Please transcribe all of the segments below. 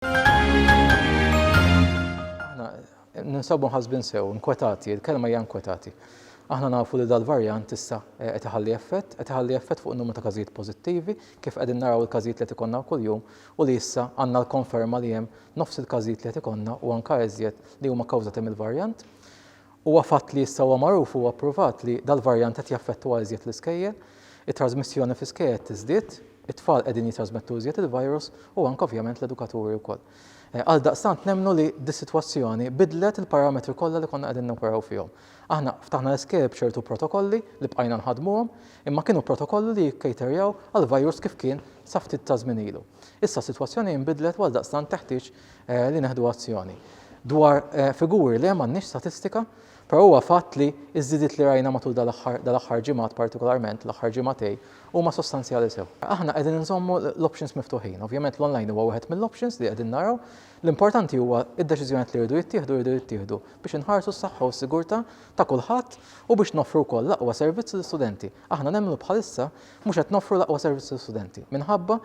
Aħna ninsabu nħasbin sew, nkwetati, il-kelma hija nkwetati. Aħna nafu li dal-varjant issa eh, qed iħalli effett, qed iħalli effett fuq numru ta' każijiet pożittivi, kif qegħdin naraw il-każijiet li qed ikollna kuljum u li issa għandna l-konferma li hemm nofs il-każijiet li qed ikollna u anke eżjed li huma kawżati mill-varjant. Huwa fatt li issa huwa magħruf u huwa pruvat li dal-varjant qed jaffettwa iżjed l-iskejjel, it-trażmissjoni fl-iskejjel qed tiżdied, it-tfal qegħdin jitrażmettu iżjed il-virus u anke ovvjament l-edukaturi wkoll. Għaldaqstant nemmnu li dis-sitwazzjoni biddlet il-parametri kollha li konna qegħdin noperaw fihom. Aħna ftaħna l-iskejjel b'ċertu protokolli li bqajna nħaddmuhom, imma kienu protokolli li jikkaterjaw għall-virus kif kien sa ftit taż-żmien ilu. Issa s-sitwazzjoni inbidlet u għaldaqstant teħtieġ li neħdu azzjoni. Dwar figuri le m'għandniex statistika, però huwa fatt li ż-żidiet li rajna matul dal-aħħar ġimgħat partikolarment, l-aħħar ġimgħatej, huma sostanzjali sew. Aħna qegħdin inżommu l-options miftuħin. Ovvjament l-online huwa wieħed mill-options li qegħdin naraw. L-importanti huwa d-deċiżjonijiet li jridu jittieħdu jridu jittieħdu biex inħarsu s-saħħa u s-sigurtà ta' kulħadd u biex noffru wkoll l-aqwa servizz lill-istudenti. Aħna nemmnu bħalissa mhux qed noffru l-aqwa servizz lill-istudenti minħabba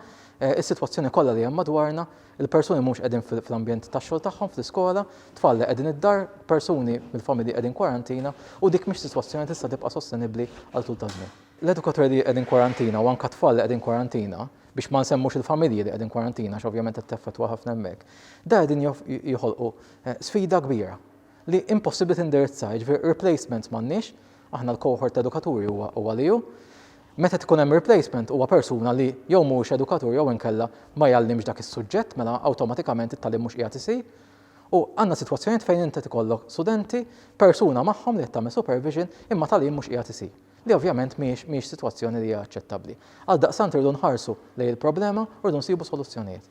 s-sitwazzjoni kollha li hemm madwarna il-persuni mhux qegħdin fl-ambjent tax-xogħol tagħhom, fl-iskola, tfal li qegħdin id-dar, persuni mill-familji qegħdin kwarantina u dik mhix sitwazzjoni li tista' tibqa' sostenibbli għal tul ta' żmien. L-edukaturi li qegħdin kwarantina u anke tfal li qegħdin kwarantina, biex ma nsemmux il-familji li qegħdin kwarantina għax ovvjament qed teffettwa ħafna hemmhekk, da qegħdin joħolqu sfida kbira. li impossibbli tindirizza, jiġifieri replacements m'għandniex, aħna l-cohort ta' edukaturi huwa huwa li hu. Meta tkun hemm replacement huwa persuna li jew mhuwiex edukatur jew inkella ma jgħallimx dak is-suġġett mela awtomatikament it-tagħlim mhux qiegħed isir. U għandna sitwazzjonijiet fejn inti tkollok studenti, persuna magħhom li qed tagħmel supervision imma tagħlim mhux qiegħed isir, li ovvjament mhijiex mhijiex sitwazzjoni li hija aċċettabbli. Għaldaqstant irridu nħarsu lejn il-problema u rridu nsibu soluzzjonijiet.